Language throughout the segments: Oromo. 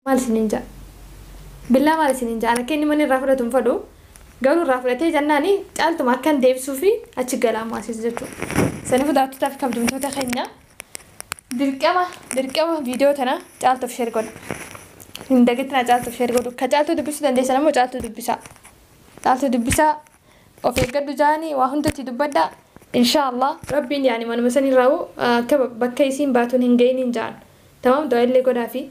Maal isiniin ja'a? Billaa maal isiniin ja'a? An akka inni mana irraa fudhatu hin fadhu. Garuu irraa fudhatee jennaan caaltuma akkan deebisuu fi achi gala ammaa siis jechuudha. Sanifu daawwattootaa fi kabajamtoota keenya dirqama dirqama viidiyoo tana caaltuuf sheer godha. Hin dagatinaa caaltuuf sheer godhu. Ka caaltuu dubbisuu dandeessan ammoo caaltuu dubbisaa. Caaltuu dubbisaa of eeggadhu jaanii waa hundatti dubbadha. Inshaa Allah rabbiin yaani manuma san irraa akka bakka isiin baatuun hin ga'iniin jaan. Tamam du'aa illee godhaafi.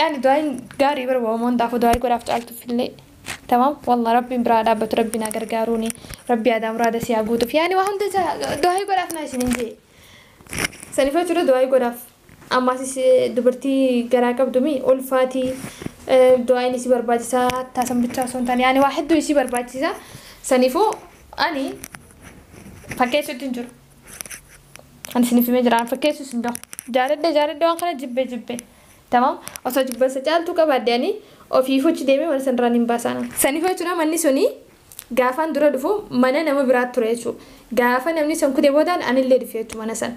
Yaani du'aayin gaarii bara waama hundaafuu du'aayi godhaaf caaltuuf illee. Tamam wallah rabbiin biraa dhaabbatu rabbiin haa gargaaruuni rabbii aadaa muraada si haa guutuuf yaani waa hunda isa du'aayi godhaaf naa isinin jee. Sanifa jechuudha du'aayi godhaaf. Ammaasis dubartii garaa qabdumi ulfaati du'aayin isi barbaachisa hattaa san bichaa osoo hin taane yaani waa hedduu isi barbaachisa sanifuu ani fakkeessuutti hin jiru. Ani isiniif himee jira. Ani fakkeessuu isin gahu. Jaaladhe jaaladhe waan kana jibbe jibbe. Tamam. Osoo jibbansa caaltuu qabaadde ani ofii fuchi deemee mana sanarraa nin baasaana. Saniif jechuudha manni suni gaafaan dura dhufu mana nama biraatti ture jechuudha. Gaafa namni san kude boodaan anillee dhufe jechuudha mana san.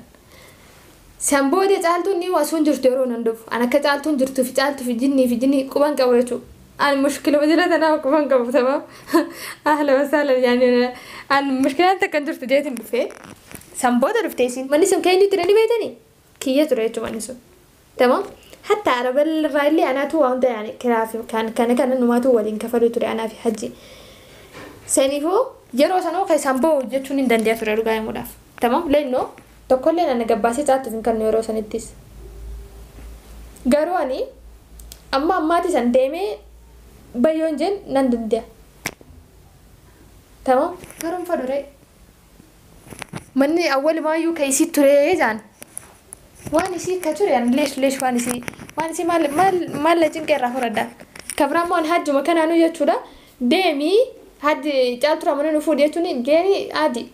San booda caaltuun ni osoo hin jirtu yeroo nan dhufu. An akka caaltuun jirtuu fi caaltuu fi jinnii fi jinnii quban qabu jechuudha. An mushkila wajira tanaa ukuman qabu tamam. Ahla wasala yani an mushkilaan takkan jirtu jeetin dhufe. San booda dhufte isin. Manni sun keenyu ture ni beetani? Kiyya ture jechuun manni sun. Tamam. Hatta araba irraa illee anaatu waa hunda yani kiraa fi kan kana kana numaatu waliin kafaluu ture anaa fi hajji. Saniifuu yeroo sanuu keessaan ba'u jechuun hin dandeenya ture dhugaa himuudhaaf. Tamam leenno. Tokkolleen ana gabbaasee caattuuf hin kannu yeroo sanittis. Garuu ani amma ammaati san deemee bay yoon jeen nan dande'a. Tamam. Garuu hin fadhu ree. Manni awwalumaayyuu ka isii turee jaan. Waan isii ka ture ani leesh leesh waan isii waan isii maal maal maal na cinqee irraa horadha. Ka biraa immoo ani hajjuma kanaanuu jechuudha deemii hajji caalturaa mana nu fuudhi jechuun deemii haadi.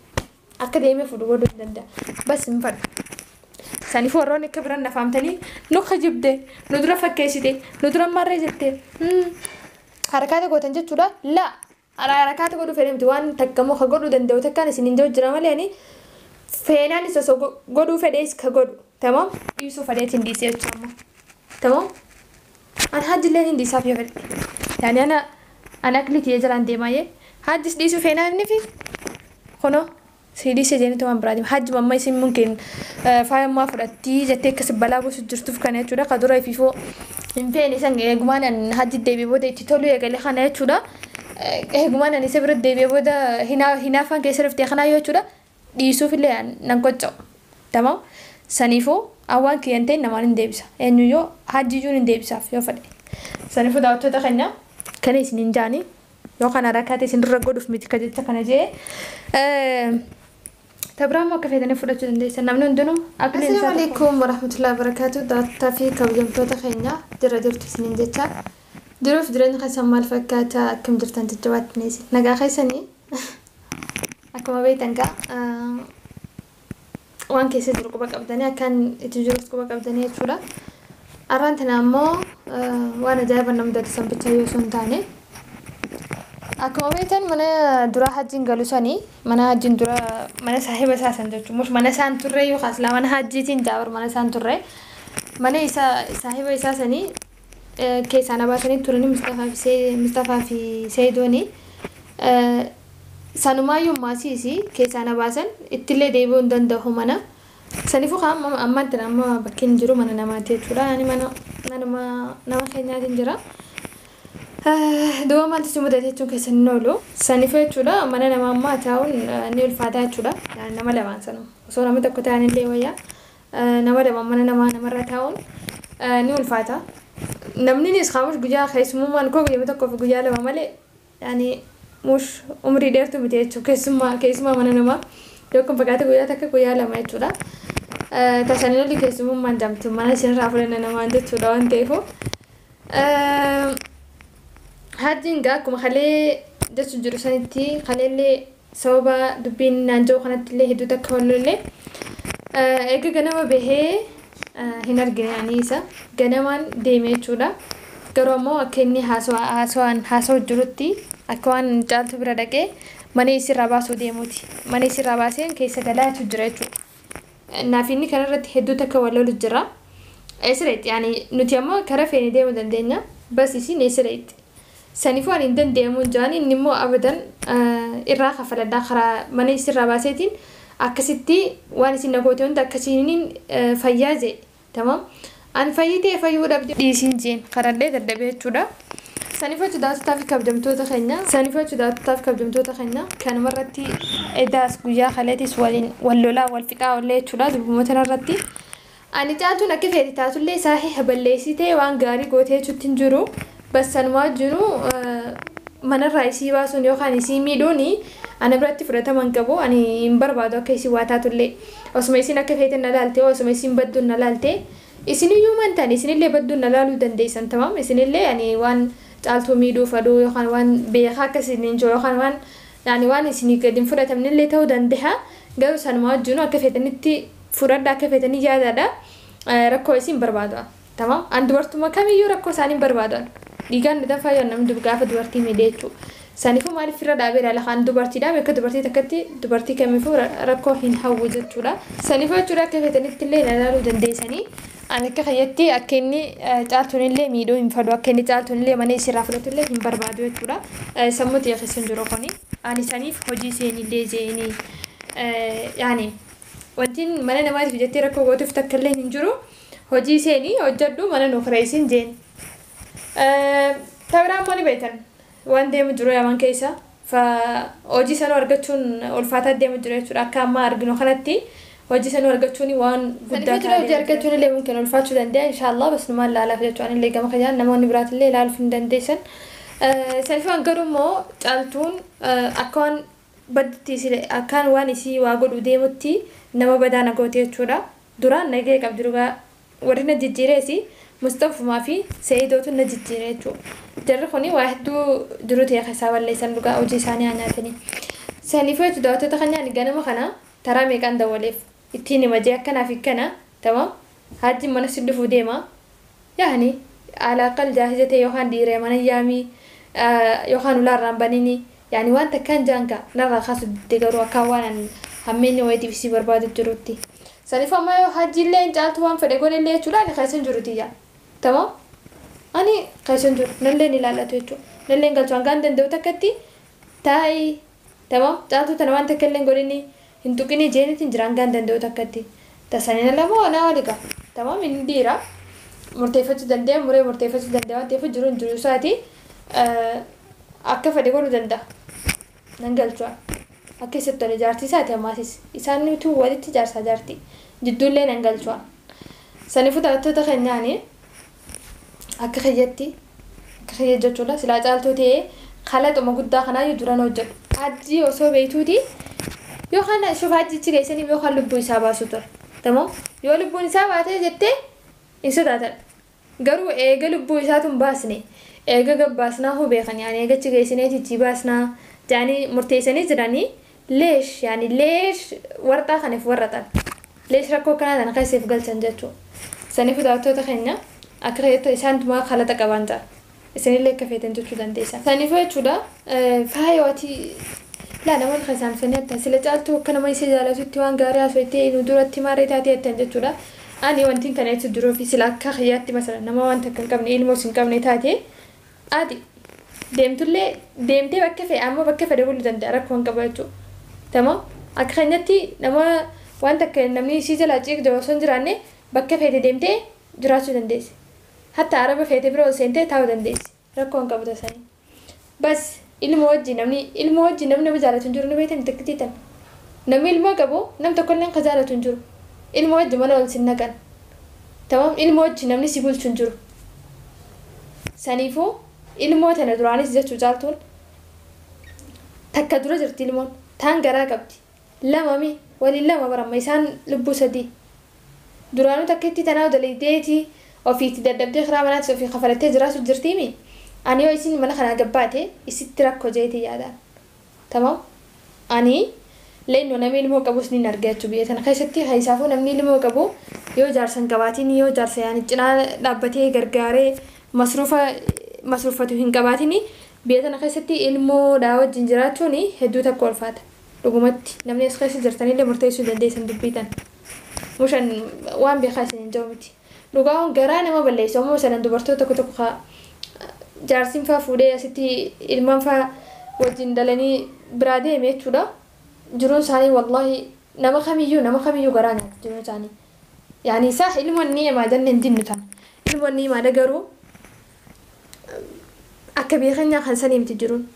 Akka deemee fuudhu godhuu hin danda'a. Bas hin fadhu. Saniif warroonni akka biran nafaamtanii nu kijibde, nu dura fakkeessite, nu dura marree jette. Harakaata gootan jechuudha. La harakaata godhuu fedhee miti waan takkamoo ka godhuu danda'u takkaan isin hin jiru jira malee ani feenaanis osoo godhuu fedhees ka godhu. Tamam dhiisuu fedheetiin dhiisee jechuudha. Tamam. An hajji illeen hin dhiisaaf yoo fedhe yaani ana an akli kiyya jalaan deemaa yee hajjis dhiisuu feenaa innifi kunoo sii dhiisee jeenitu waan biraa deema hajjuma amma isin munkin faaya ammaa fudhattii jettee akka si balaa buusu jirtuuf kana jechuudha ka dura ifiifoo hin feene san eegumaan an hajji deebi'e booda itti toluu eegale kana jechuudha eegumaan an isa bira deebi'e booda hinaa hinaafaan keessa dhuftee kanaa yoo jechuudha dhiisuufillee an nan qocca'u. Tamam saniifuu an waan kiyya hin ta'in namaan hin deebisa. Eenyuyyuu hajjiyyuu nin deebisaaf yoo fedhe. Saniifuu daawattoota keenya kana isiniin jaani yoo kana rakate isin dura godhuuf miti ka jecha kana jee. Tabiraammoo akka feetanii fudhachuu dandeessan namni hundinuu abiliin isaa Assalamu tokko. alaikum warahmatullahi wabarakatuh daawwattootaa fi kabajamtoota keenya jirra jirtu isiniin jecha jiruuf jireenya keessan maal fakkaata akkam jirtan jajjabaatti ni isin nagaa keessanii Akkuma beektan gaa waan keessa jiru quba qabdanii akkan itti jirus quba qabdanii jechuudha. Arraan tana ammoo waan ajaa'iba na mudatu san bicha yoo osoo hin taane akkuma beektan mana dura hajjiin galu sanii mana hajjiin dura mana saahiba isaa san jechuun mush mana isaan turre yookaas laa mana hajjiitiin jaabar mana isaan turre mana isaa saahiba isaa sanii keessaa na baasanii turanii Mustafaa fi Seey Mustafaa fi Seeyidooni. Sanumaayyuu ammaa siis keessaa na baasan ittillee deebi'uu hin danda'u mana. Saniifuu kaa amma ammaan tana amma bakkiin jiru mana namaati jechuudha. Ani mana manuma nama keenyaatiin jira. Duuba maaltu si mudate jechuun keessan hin oolu. Saniifuu jechuudha mana namaa ammaa taa'uun ni ulfaataa jechuudha. Nama lamaan sanuma. Osoo nama tokko ta'anillee wayyaa. Nama lama mana namaa namarra taa'uun ni ulfaata. Namninis kaa mush guyyaa keessumummaan koo guyyama tokkoo fi guyyaa lama malee yani mush umrii dheertuu miti jechuudha. Keessummaa keessumaa mana namaa yoo kan fagaate guyyaa takka guyyaa lama jechuudha. Tasanii olli keessumummaan jamtu mana isinirraa fudhanna namaan jechuudha waan ta'eefu. Hajjiin gaa akkuma kalee jechuun jiru sanitti kaleellee Sababa dubbiin naan jedhu kanattillee hedduu takka wal lolle. Erga ganama bahee hin argine ani isa. Ganamaan deeme jechuudha. Garuu ammoo akka inni haasawaan haasawu jirutti akka waan caaltuu bira dhaqee mana isiirraa baasuu deemuuti. Mana isiirraa baaseen keessa galaatu jira jechuudha. Naaf inni kanarratti hedduu takka wal lolu jira. Eessa dhaqxi? Nuti ammoo karaa feene deemuu dandeenya. Bas isiin eessa dhaqxi? Sanifu ani hin dande'amuun ja'an, inni immoo abadan irraa kaffaladha, karaa mana issi irraa baaseetiin akkasitti waan isin na goote hunda akkasiinin fayyaa je'e. Tamam. Ani fayyitee fayyu'uu dhabde. dhiisiin je'een. Kadhadhee dadhabe jechuudha. Sanifu jecha daawwattotaa fi kabjamtoota keenya. Sanifu jecha daawwattotaa fi kabjamtoota keenya. Kanuma irratti edaas guyyaa kaleetiis waliin wal lolaa, wal fixaa oolle jechuudha, durbuma tana irratti. Ani caaltuun akka feete taatullee saahiha balleessitee waan gaarii goote jechuutti hin jiru. Bas sanumaa wajjinuu manarraa isii baasuun yookaan isii miidhuun ana biratti fudhatama hin qabu. Ani hin barbaadu akka isiin waa taatullee. Osuma isiin akka feete na laaltee osuma isiin badduun na laaltee isiniyyuu man taane isinillee badduun na laaluu dandeessan tamam isinillee ani waan caaltuu miidhuu fadhuu yookaan waan beekaa akka isiniin jiru yookaan waan ani waan isinii gad hin fudhatamnellee ta'uu dandaha garuu sanumaa wajjinuu akka feetanitti Fudhadha akka fetanii jaadadha rakkoo isiin barbaadu'an tamam an dubartuma kamiyyuu rakkoo isaanii hin barbaadu'an dhiigaan na danfaa yoo namni gaafa dubartii miidhe jechuu sanifuu maaliif irra dhaabee ilaala kaan dubartiidha beeka dubartii takkatti dubartii kamiifuu rakkoo hin hawwu jechuudha sanifuu jechuudha akka fetanitti illee na ilaaluu dandeessanii ani akka kiyyatti akka inni caaltuun illee miidhuu hin fadhu akka inni caaltuun illee mana isirraa fudhatu illee hin barbaadu jechuudha sammuu xiyya keessa hin jiru kuni ani saniif hojii seenillee jeeni yaani Wantin mana namaatiif jettee rakkoo gootuuf takkalleen hin jiru. Hojii seeni hojjadhu mana nuu kireeysin jeen. Tabiraa immoo ni beeytan waan deemu jiru yaman keeysa. Fa hojii sanuu argachuun ulfaataa deemu jira jechuudha. Akka ammaa arginu kanatti hojii sanuu argachuun waan guddaa ta'a. Hojii argachuun illee mumkin ulfaachuu danda'a inshaallah bas numaan laalaaf jechuudha. Anillee gama kiyaan namoonni biraatillee ilaaluuf ni dandeeysan. Sanifumaan garuu immoo caaltuun akka waan baddutti sile akkaan waan isii waa godhuu deemutti nama badaa na goote jechuudha duraan nagaya qabdi dhugaa warri na jijjiire isii musxafumaa fi seidootu na jijjiire jechuu jarri kuni waa hedduu jiruu tiyya keessaa balleessan dhugaa hojii isaanii haa nyaatanii saniifuu jechu daawwattoota keenyaa ani ganama kana taraa meeqaan dawwaleef ittiin hima jee akkanaaf hikkana tamam haajjiin mana si dhufuu deema Yaani alaaqal jaarsa jetee yookaan dhiireema na yaami yookaan ulaa irraa hin banini yaani waan takkaan jaan kaa narraa kaasu didde garuu akkaa waan an hammeenya wayiitiif isii barbaadu jirutti sanifu amma yoo hajjiilleen caaltu waan fedhe godhellee jechuudha ani keessan jiru tiyya tamam ani keessan jiru nalleen ilaallatu jechuu nalleen galchu hangaan danda'u takkatti taa'i Tamam caaltuu tana waan takkallee hin godhini hin tuqini jeenitin jira hangaan danda'u takkatti ta sanin ala moo anaa oli gaa tamam inni dhiira murteeffachuu danda'a muree murteeffachuu danda'a waan ta'eef jiruun jiruu isaati akka fedhe godhuu danda'a nan galchua akka isatti tole jaartii isaati ammaatis isaan nutuu walitti jaarsaa jaartii jidduullee nan galchua sanifu taphattoota kenyaani Akka kiyyatti akka kiyya jechuudha silaa caaltuu ta'ee kalaxuma guddaa kanaayyuu duran hojjedhu. Hajjii osoo beeytuuti yookaan shuf hajjichi geessanii yookaan lubbuu isaa baasuu ture. Tamam yoo lubbuun isaa baatee jettee hin sodaatan. Garuu eega lubbuu isaatu hin baasne eega gabbaasnaa hoo beekanii ani eegachi geessineeti itti baasnaa jedhanii murteessanii jiranii Leesh yaani leesh warxaa kan if warraxan leesh rakkoo akkanaa tana keessa if galchan jechuu sanifu daawattoota keenya akka keeyyata isaantumaa kalaxa qabaan ta'a isinillee akka feetan jechuu dandeessa sanifu jechuudha faayoo ati laa namoonni kan saamsanii attaa sila caaltuu akka nama isa jaalatutti waan gaarii haasoytee nu duratti maarree taatee attan jechuudha ani wantiin kana jechu duroofi sila akka kiyyaatti masala nama waan takka hin qabne ilmoos hin qabne taatee Ati deemtullee deemtee bakka fe'e ammoo bakka fedhe bulu danda'a rakkoo hin qabu jechuu tamam akka keenyatti nama waan takka namni isii jalaa ciiq jedhu osoo hin jiraanne bakka feete deemtee jiraachuu dandeessi hatta araba feete bira ol seentee taa'uu dandeessi rakkoo hin qabu tasanii bas Ilmo wajji namni ilmo wajji namni nama jaalatu hin jiru ni beeytani takkittii tan namni ilmoo qabu nam tokkolleen ka jaalatu hin jiru ilmo wajji mana wal sin naqan tamam ilmo wajji namni si bulchu hin jiru saniifuu ilmoo tana duraanis jechuu caaltuun takka dura jirti ilmoon taan garaa qabdi Lama mi waliin lama bar amma isaan lubbuu sadii duraanuu takkittii tanaa dalaydeeti ofii itti dadhabdee kiraa manaatis ofii kafalattee jiraachu jirtii mi ani yoo isiin mana kanaa gad baate isitti rakko jeetii yaadaan tamam ani leenno nami ilmoo qabus niin arge achu biyya tana keessatti keessaafuu namni ilmoo qabu yoo jaarsa hin qabaatini yoo jaarsa yaani cinaa dhaabbatee gargaaree masruufa masruuffatu hin qabaatini biyya tana keessatti ilmoo dhaa wajjin jiraachuuni hedduu takka ulfaata. Dhugumatti, namni as keessa jirtanillee murteessuu dandeessan dubbii tana. Mushan waan beekaa isiniin ja'u miti. Dhugaa'uun garaa nama balleessa. Ummuu Salan dubartoota tokko tokko ka jaarsiin faa fuudhee asitti ilmaan faa wajjin dhalanii biraa deeme jechuudha. Jiruun isaanii wallaahi nama kamiyyuu nama kamiyyuu garaa nyaatti jiruun isaanii. Yaani saah ilmoon ni'imaa jenne hin dinnu tana. Ilmoon ni'imaadha garuu akka biyya keenyaa kan sanii miti jiruun.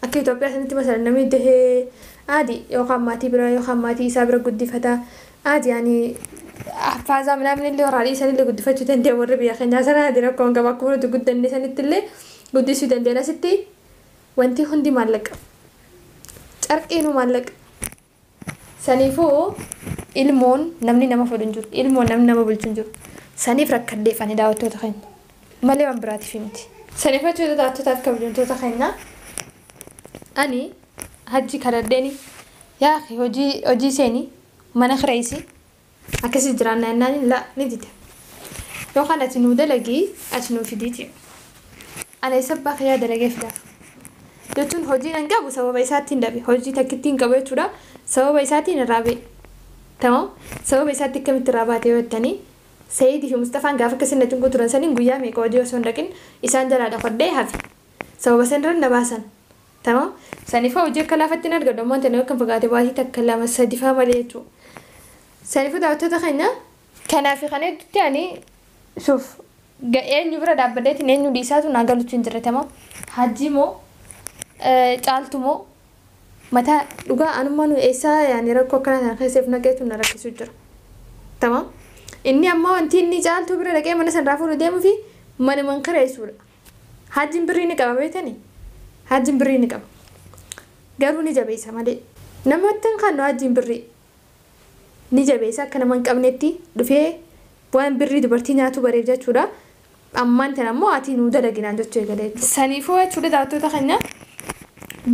Akka Itoophiyaa sanitti masalan namni dahee aadi yookaan maatii bira yookaan maatii isaa bira guddifata. Aadi yaani haffaaza minaamin illee warra alii sanillee guddifachuu danda'a warri biyya keenyaa sana aadi rakkoo hin qabu akkuma nuti guddanne sanitti illee guddisuu danda'an asitti wanti hundi maallaqa. Carqiinu maallaqa. Saniifuu ilmoon namni nama fudhu hin jiru. Ilmoon namni nama bulchu hin jiru. Saniif rakkadheef ani daawwattoota keenya. Malee waan biraatiif miti. Saniif jechuudha daawwattootaaf kabajamtoota keenya. Ani hajji kadhadheeni yaa akhi hojii hojii seeni mana kireessi Akkasii jiraanna jennaaniin la ni dide. Yookaan ati nuu dalagi achi nuu fidii ti. Ana isa abbaa kiyyaa dalagee fidaaf. Jechuun hojiin an qabu sababa isaattiin dhabe. Hojii takkittiin qabu jechuudha. Sababa isaatiin irraa ba'e. Tamam. Sababa isaatti akkamitti irraa baate yoo jettanii Sayiidii fi Musxafaan gaafa akkasiin na cinquu turan saniin guyyaa meeqa hojii osoo hin dhaqin isaan jalaa dhokadhee hafe. Sababa san irra na baasan. tama sanifaa hojii akka laafatti hin argadhu ammoo intanoo kan fagaate baatii takka lama sadifaa malee jechuu sanifuu daawwattoota keenya kanaa fi kan hedduutti ani suuf eenyu bira dhaabbadeetiin eenyu dhiisaatu naa galuutu hin jirre tama hajjii moo caaltu moo mataa dhugaa anummaa nu eessaa yaani rakkoo akkana sana keesseef naqeetu na rakkisuu jira tama inni ammoo wanti inni caaltuu bira dhaqee mana sanraa fuudhu deemuufi mana man kireessuudha Hajjin birrii ni qaba beetani hajjin birrii ni qaba garuu ni jabeessa malee namatti hin kannu hajjin birrii ni jabeessa akka nama hin qabnetti dhufee waan birrii dubartii nyaatuu bareef jechuudha ammaan tan ammoo atii nuu dalaginaan jechuu eegalee jechuudha. Saniifuu jechuudha daawwattoota keenya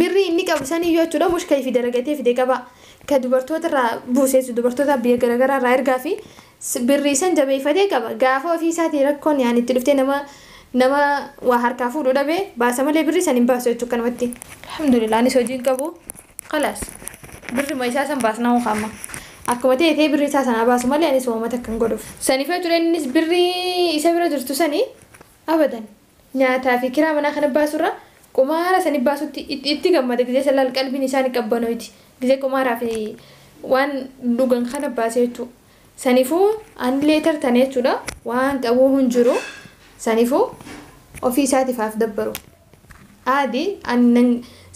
birrii inni qabu saniyyuu jechuudha mushka ifi dalagatee fide qaba ka dubartoota irraa buuseessu dubartoota biyya garaagaraa irraa ergaa fi Birrii san jabeeyfatee qaba. Gaafa ofii isaatii rakkoon yaani itti dhuftee nama nama waa harkaa fuudhu dhabe baasa malee birrii san hin baasu jechu akkanumatti. Alhamdulillah anis hojii hin qabu. Khalaas. Birrima isaa san baasnaa hoo amma. Akkuma ta'e ta'ee birrii isaa sanaa baasu malee anis waamata akka hin godhuuf. Saniif yoo ture innis birrii isa bira jirtu sani abadan. Nyaataa fi kiraa manaa kana baasu irra qumaara sani baasutti itti itti gammada gizee san laal qalbiin isaa ni qabbanoyti gizee qumaaraa fi waan dhugan kana baase jechuu sanifu ani later tane jechuudha waan qabuu hin jiru sanifu ofii isaatif haaf dabbaru aadi ani nan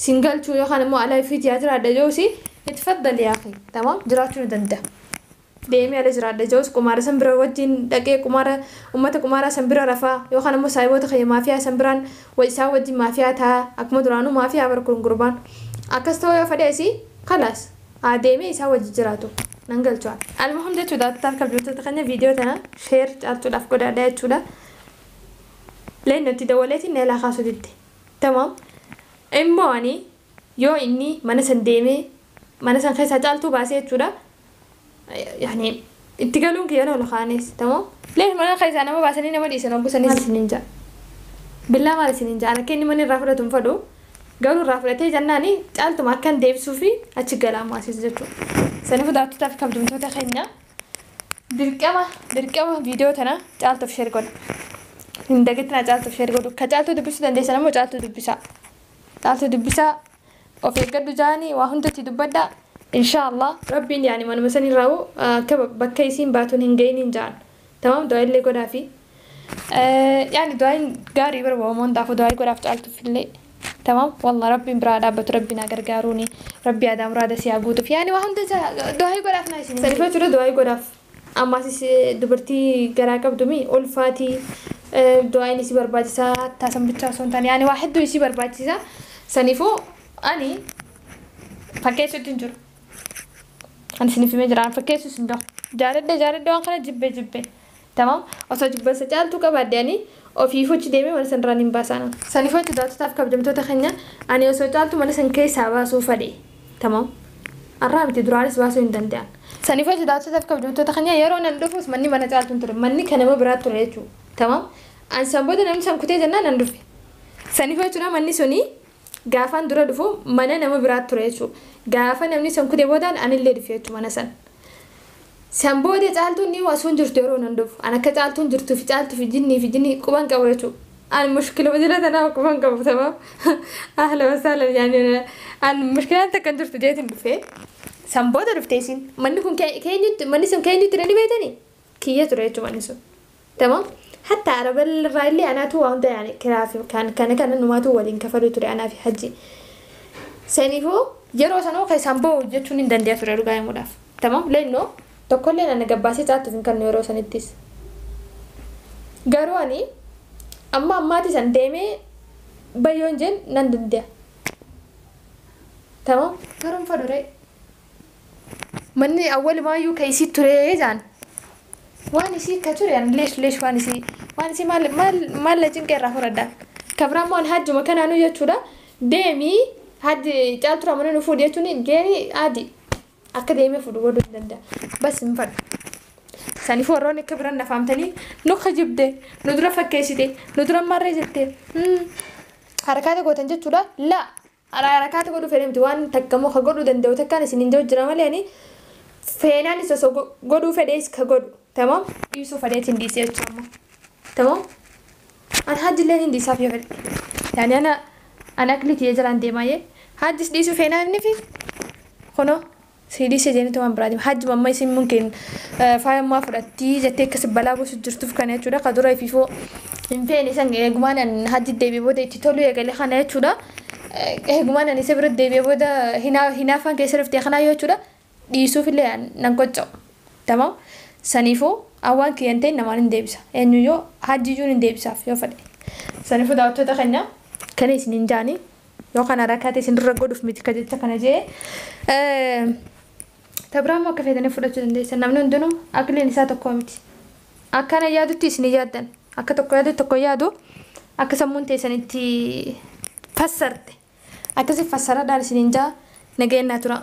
sin galchuu yookaan immoo alaa ifiit yaa jiraadha joosi itfaddal yaaqi tamam jiraachuu ni danda'a. deemee ala jiraadha ja'us qumaara san bira wajjiin dhaqee qumaara ummata qumaaraa san bira rafa yookaan ammoo saahiboota kiyya maafiyaa san biraan wa isaan wajjiin maafiyaa ta'a akkuma duraanuu maafiyaa bar kun gurbaan akkas ta'uu yoo fedhe isii kalaas haa deemee isaan wajji jiraatu nan galchu an. Almuhim jechuudha taal kabjamtoota keenya viidiyoo tana sheer caaltuudhaaf godaadha jechuudha leenno itti dawwaleetiin na ilaa kaasuu didde tamaam immoo ani yoo inni mana san deemee Mana san keessaa caaltuu baasee jechuudha. Yaani itti galuun kiyya lola kaanis tamoo. Leef mana keessaa nama baasanii nama dhiisan hogguu san maal isiniin ja'a. Billaa maal isiniin ja'a. An akka inni mana irraa fudhatu hin fadhu. Garuu irraa fudhatee jannaani caaltuma akkan deebisuufi achi gala ammaa siis jechuudha. Sanifu daawwattootaa fi kabjamtoota keenya dirqama dirqama viidiyoo tana caaltuuf sheer godha. Hin dagatinaa caaltuuf sheer godhu. Ka caaltuu dubbisuu dandeessan ammoo caaltuu dubbisaa. Caaltuu dubbisaa Of eeggadhu jaani waa hundatti dubbadha inshaa Allah. Rabbiin yaani manuma san irraahu akka bakka isiin baatun hin gayiniin jaan tamam du'aa'ii illee godhaafi yaani du'aa'iin gaarii bar wahuma hundaafu du'aa'ii godhaaf caaltuuf illee tamam wallah rabbiin biraa haa dhaabbatu rabbiin haa gargaaruuni rabbii aadaa muraada sii haa guutuuf yaani waa hunda isaa du'aa'ii godhaaf naa isiniin jedha. Saniif jechuudha du'aa'ii godhaaf. Ammasis dubartii garaa qabdu mi ulfaati du'aayin isii barbaachisa hattaa san bichaa osoo hin taane yaani waa hedduu isii barbaachisa saniifuu ani fakkeessutti hin jiru ani isiniif himee jira ani fakkeessuus hin gahu jaaladhe jaaladhe waan kana jibbe jibbe tamam osoo jibbansa caaltuu qabaadde ani ofii fuchi deemee mana sanirraa nin baasaana saniifuu itti daawwattotaaf kabajamtoota keenya ani osoo caaltuu mana san keessaa baasuu fadhe Tamam. Arraa miti duraanis baasuu hin dandean. Saniif hojii daawwattootaaf kabajamtoota keenya yeroo nan dhufus manni mana caaltuu hin ture. Manni kan nama biraa ture jechuu. Tamam. An san booda namni san kutee jennaan nan dhufe. Saniif jechuudha manni suni gaafaan dura dhufu mana nama biraa ture jechuu. Gaafa namni san kutee boodaan anillee dhufe jechuu mana san. San booda caaltuun dhiyoo asuun jirtu yeroo nan dhufu. An akka caaltuun jirtuu fi caaltuu fi jinnii fi jinnii quban qabu jechuudha. An mushkiluma jala tanaa quban qabu tamam. Ahla wasaalan yaani an mushkilaan takka hin jirtu jeetiin dhufee. San booda dhuftee isin manni kun keenyutti manni sun keenyutti ni beetanii? kiyya ture jechu manni sun tamam hatta araba irraa illee anaatu waa hunda yaani kiraa fi kan kana kana numaatu waliin kafaluu ture anaa fi hajji saniifuu yeroo sanoo keessaan boo jechuun hin dandeenya ture dhugaa himuudhaaf tamam leennoo tokkollee nana gabbaasee caattuuf hin kannu yeroo sanittis garuu ani amma ammaati san deemee bayyoon jeen nan dandeenya tamam garuu hin faduree Manni awwalumaayyuu ka isii turee jaan. Waan isii ka ture an leesh leesh waan isii waan isii maal maal maal na cinqee irraa furadha. Ka biraa immoo an hajjuma kanaanuu jechuudha deemii hajji caaltuu ramana nu fuudhi jechuuni deemii haadi akka deemee fuudhu godhuu hin danda'a. Bas hin fadhu. Saniif warroonni akka biran na faamtanii nu kijibde nu dura fakkeessite nu dura marree jette harakaata gootan jechuudha laa. Haraa harakaa ta godhu fene miti waan takka mo ka godhu danda'u takkaan isinin jau jira male ani feenaanis oso godhuu fedhees ka godhu tamam. dhiisuu fadheet hin dhiisee achi amma tamam an hajji illeen hin dhiisaaf yoo fedhe yaani ana an akli kiyya jalaan deemaa yee hajjis dhiisuu feenaa innifi kunoo. Sii dhiise jenitu waan biraati hajji mamma isin munkin faaya ammaa fudhattii jettee akkasi balaa buusu jirtuuf kana jechuudha ka dura ififoo hin feene san eegumaan an hajji deebi'e booda itti toluu eegale kana jechuudha eegumaan an isa bira deebi'e booda hinaa hinaafaan keessa dhuftee kanaa yoo jechuudha dhiisuuf illee an nan qocca'u tamam saniifuu an waan kiyyan ta'in namaan hin deebisa eenyu yoo hajji iyyuu hin deebisaaf yoo fedhe saniifuu daawwattoota keenya kana isin hin jaani yoo kana rakate isin dura godhuf miti ka jecha kana jee tabraa immoo akka feetanii fudhachuu dandeessan namni hundinuu akiliin isaa tokkoo miti akkana yaadutti isin yaaddan akka tokko yaadu tokko yaadu akka sammuun teessan itti fassarte akkasi fassaradhaan isin hin jaa nageenyaa turaa.